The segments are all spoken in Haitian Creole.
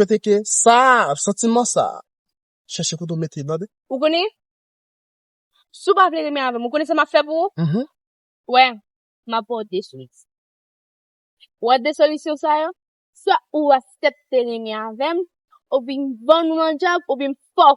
Kote ke sa a, santiman sa a. Chèche kote w mete l tande. Ou konnen, si w pa vle renmen avè m, ou konnen sa m ap fè pou ou? Ou wè, m ap ba w de solisyon. Ou wè de solisyon sa yo? Swa ou aksepte renmen avè m, oubyen m ban nou an djab, oubyen m fè w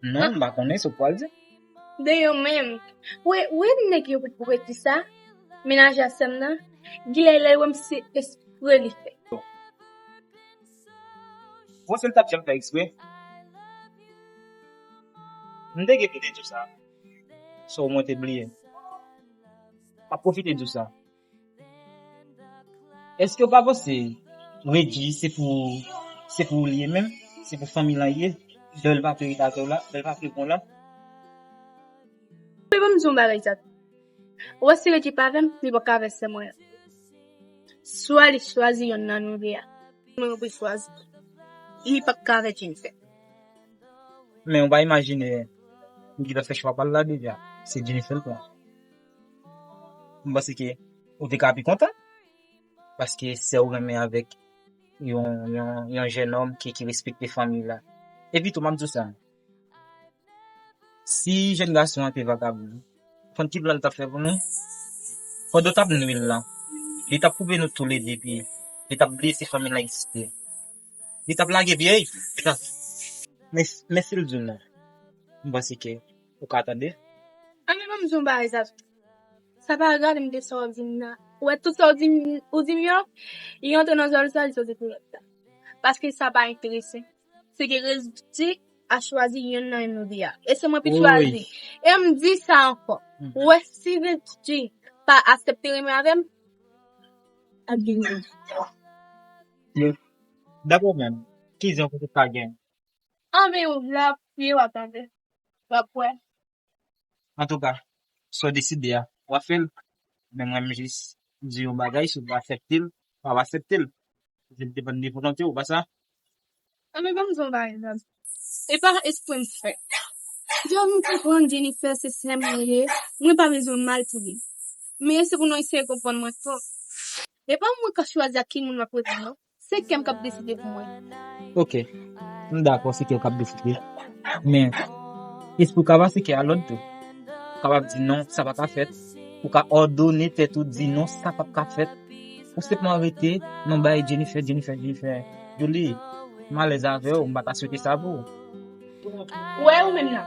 Non, m pa konnen sa w pral di. De yo menm. Ou wè nèg yo pou yo di sa? Menajè a sè m nan, genlè lè l wè m se espre li fè. Bon si l t ap janm fè espre? M te gen pou m te di w sa. Sa w mwen te bliye? M ap pwofite di w sa. Eskew pa panse Regi se pou se pou li ye menm se pou fanmi lan ye bel papye li batew la bel papye bon lan. Anpè banm di yon bagay Jack ou wè si Regi pa avèm li paka avè sè mwen an swa li chwazi yonn nan nou 2 a mwen mwen pou chwazi li paka avè Jennifer. Men ou pa imajine Regi ta fè chwa pal la deja se Jennifer l pran. Mwen panse ke ou te ka pi kontan. Paske sè ou renmen avèk yon jenòm ki respekte fanmi la. Epi tou map di w sa, si jèn gason an te vagabon, konn ki plan li tap fè pou nou? Pandan ou tap nwi l lan, li tap koupe nou toulede pi li tap blese fanmi l lan eksprè. Li tap lage pye ui. Men men sil di w non m panse ke ou ka tande. An men banm di yon bagay Zazou sa pa rale m de sa wap di m nan ou wè tout sa w di m ou di m yo li antre nan zòrèy sa li sòti pou lòt la paske sa pa enterese m se ke rezilti a chwazi yonn nan yo nou di a e se mwen ki chwazi e m di sa ankò ou wè si rezilti pa asepte renmen avè m ap gen yon rezilti. Yo Dap ou menm ki zen ou poko ka gen. Anmeyy ou la priye wap tande wap wè. Antouka sa w deside a wap fè l men m renmen jis di yon bagay si w pa asepte l pa w asepte l paske li depann de volonte w pa sa? Anmeyy banm di w bagay Dad e pa espre m fè Dad m konprann Jennifer se sè m li ye mwen pa bezwen mal pou li men se pou nou eseye konprann mwen tou. E pa mwen kap chwazi ak ki moun map rete non. Se kèm kap deside pou mwen. Ok. M dakò se kèw kap deside. Men, esprew ka pase kè a lòd tou. Ou kapab di non, sa paka fèt. Ou ka òdone tèt ou di non, sa pap ka fèt. Ou senpman rete nan bay Jennifer, Jennifer, Jennifer. Douly, m alèz avèw, m pata swete sa pou ou. Ou wè ou menm nan.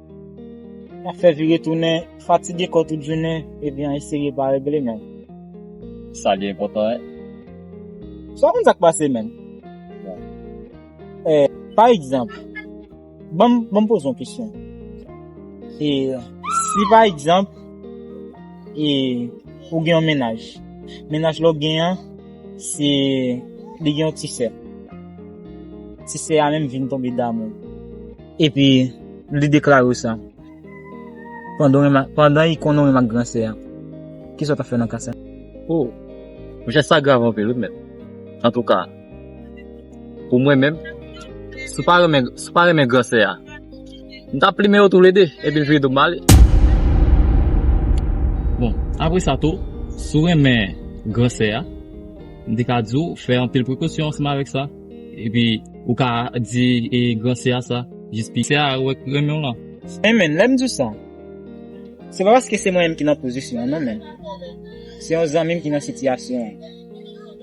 Wap fè vire tounen, fatige kò tout jounen, ebyen eseye pa regle menm. Sa li enpòtan e. Sa w konn sa k pase menm? Bon. E, pa egzanp, ban m poze yon kesyon. E, si pa egzanp, e, ou gen yon menaj. Menaj la w gen an, se, li gen yon ti sè. Ti sè a menm vin tonbe damou. Epi, li deklare sa. Pandan i konnen w menm ak gran sè a, ki sa w t ap fè nan ka sa a? O! Monchè, sa grav anpil wi mèt. Antouka, pou mwen menm, si w pa renmen, si w pa renmen gran sè a, m t ap plimen yo toule de, epi m vire do m ale. Bon, apre sa tou, si w renmen gran sè a, m te ka di w fè anpil prekosyon ansanm avèk sa. Epi ou ka di e gran sè a sa, jis pi sè a wè k renmen w lan. Men men, lè m di w sa, se pa paske se mwen menm ki nan pozisyon an non men, se yon zanmi m ki nan sitiyasyon an.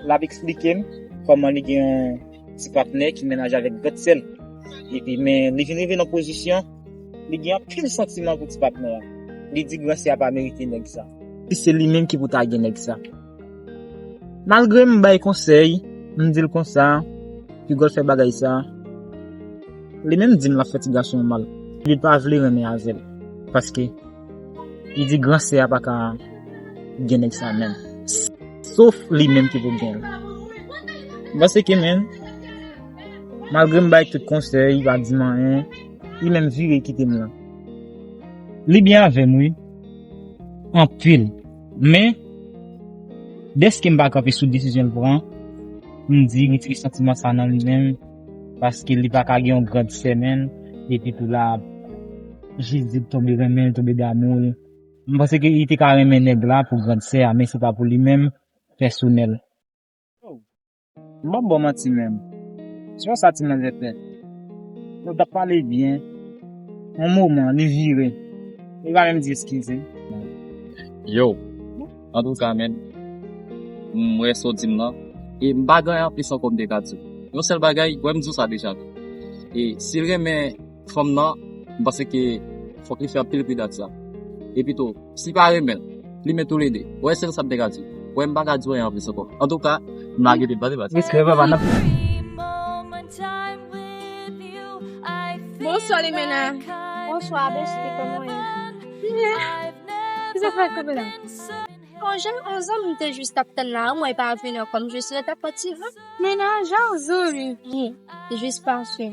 L ap eksplike m kòman li gen yon ti patnè ki menaj avèk grande sè l. Epi men li vin rive nan pozisyon li gen anpil santiman pou ti patnè a. Li di gran sè a pa merite nèg sa. Se li menm ki pou ta gen nèg sa. Malgre m bay konsèy, m di l konsa, piga w t fè bagay sa. Li menm di m l ap fè ti gason an mal, epi l pa vle renmen avè l, paske li di gran sè a pa ka gen nèg sa menm, sof li menm ki pou gen l. M panse ke menn, malgre m bay tout konsèy, li pa di m anyen, li menm vire kite m lan. Li byen avè m wi, anpil. Men, dèske m pa kanpe sou desizyon l pran, m di retire santiman sa nan li menm, paske li pa ka gen yon grande sè menm, epi tou la ap jis di l tonbe renmen l, tonbe damou l. M panse ke li te ka renmen nèg la pou grande sè a, men se pa pou li menm pèsonèl. M pap baw manti menm se pa sa ti manzè fè Nou tap pale byen yon moman li vire li pa menm di eskize m. Yow antouka menn m wè sa w di m lan e m pa gen anyen anplis ankò m te ka di w. Yon sèl bagay wè m di w sa deja e si l renmen. fanm nan, m panse ke fòk li fè anpil pridan ak sa. Epi tou, si pa renmen, li men tou le 2. Ou wè sèl sa m te ka di. Ou wè m pa ka di w anyen anplis ankò. Antouka, m lage debat la. Respè papa nan pye. Bonswa limena. Bonswa besti koman ou ye. M byen. Ki zafè ak kanpe la. Bon jan on zanmi m te jis tap tann la anmwey pa vini ankò m jis ret ap pati. Mena jan on zanmi m te jis pase.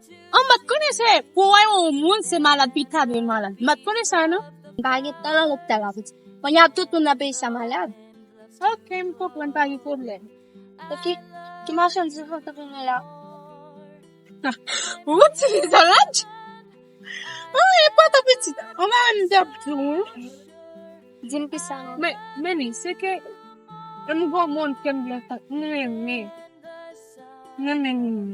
An mwen konnen se pou wè yon moun se malad pi ta dwe malad. Mwen konnen sa non. Pa gen tan lan lopital la piti. Mwen ya tout moun nan peyi sa malad. Ok, m konprann pa gen problem. Ok, ki machan di vant ou vini la? Ou ti fi sa laj? Ou e pa ta piti. Ou mwen m di ap di ou. Di m ki sa non. Men, men ni, se ke m gon moun ke m gen tan. M renmen. M renmen moun.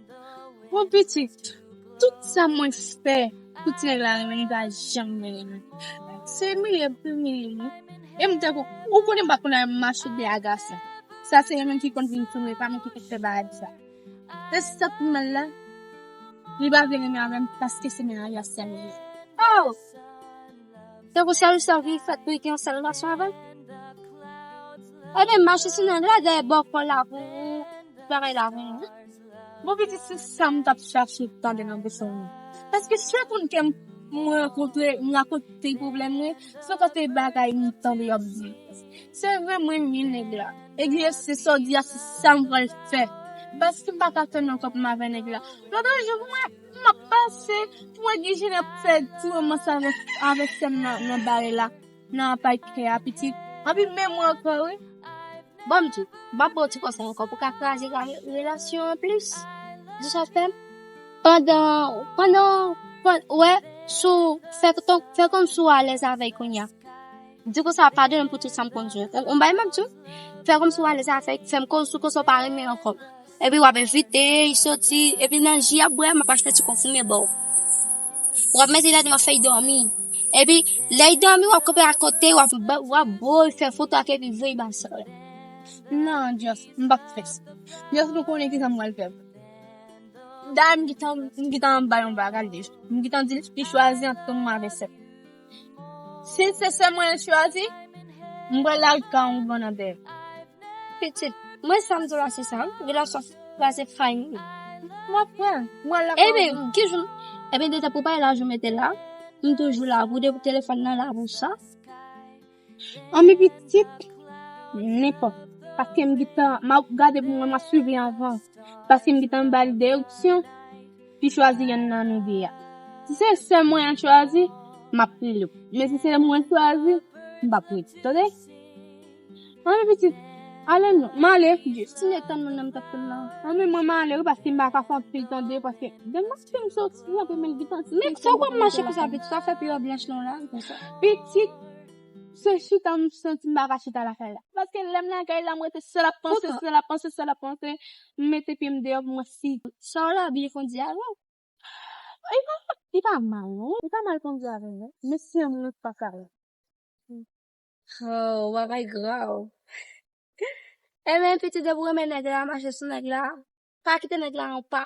Bon pitit, tout sa mwen fè pou ti nèg la renmen li pa janm renmen li. Se imilye l pou l imilye li. E m tankou, ou konnen m pa konn al mache byen ak gason. Sa se yo menm ki konn vin tounen, pa mwen ki konn fè bagay sa. E sa k pi mal la, li pa vle renmen avè m paske se menaj a sè m li ye. Aww! Te kou sèl sèl ki fèt pou li gen yon sèl nasyon avèl. E men mache si nan la dèyè bò kò la pou bagay la pou nou. Bon pitit se sa m tap chache tande nan bouch ou. Paske sèl moun ke m rankontre m rakonte pwoblèm mwen, se kote bagay m tande yo ap di. Se vre m renmen nèg la. Ebyen se sa w di a se sa m pral fè. Paske m pa ka fè nan kòk m avè nèg la. Lòt yon jou mwen. Map pase pou wè gen jen ap fè ti romans avèk sèm nan bare la nan apa kè a pitit anpi menm mwen ankò wi. Banm di, map baw ti konsèy ankò pou ka kraze relasyon an plis. Di sa fèm? Pandan, pandan, wè sou fè kòm sou alèz avèl kounya. Di konsa padon m pou tout sa m konn di w. Ou bay map di w? Fè kòmsi w alèz avèk, fè m konnen sou kòsi w pa renmen ankò. Epi wap envite li soti, epi nan ji yap bwè map achte ti konfime ba w. Wap mete ladan wap fè li dòmi. Epi lè li dòmi wap kanpe akote wap bo l, fè foto ak li epi voye ba sè w la. Nan Just, m pap fè sa. Just m konnen kisa m pral fè. Dayè m gentan bay yon bagay deja. M gentan di l li chwazi ant mwen avè sè l. Si se sè mwen chwazi, m bral lal ka on bon nan bèk. Pitit, mwen sa m di w la se sa wi, relasyon sa se fay m wi. M ap pran l, m bral la ka on bon. Eben, ki jou, eben detan pou bay laj ou mete la, m toujou la pou de pou telefòn nan la pou sa. An mi pitit, nenpòt. Paske m gitan, m ap gade pou mwen, m ap suiv li anvan. Paske m gitan ba li de opsyon, pi chwazi yonn nan nou de a. Si se sè mwen an chwazi, m ap rele ou. Men si se mwen chwazi, m p ap rele ou. Tande? An mi pitit, ale nou. M ale. Jis m etann moun nan m t ap tann nan. An mi mwen m ale wi paske m pa ka fè anpil tande paske gen moun ki m soti anpe men l gitan. Men sa w konn mache konsa pitit, sa w fè pi w blanch lan w la konsa. Pitit. Se chita m santi m pa ka chita lakay la. Paske lè m lakay la m rete sèl ap panse, sèl ap panse, sèl ap panse. M mete pye m deyò pou mwen fi. Sa w la byen kondi avè l. Li pa mal non. Li pa mal kondi avè l. Men se mwen k pa ka. Hoo bagay grav. Enben pitit depi w renmen nèg la, mache sou nèg la. Pa kite nèg la an pa.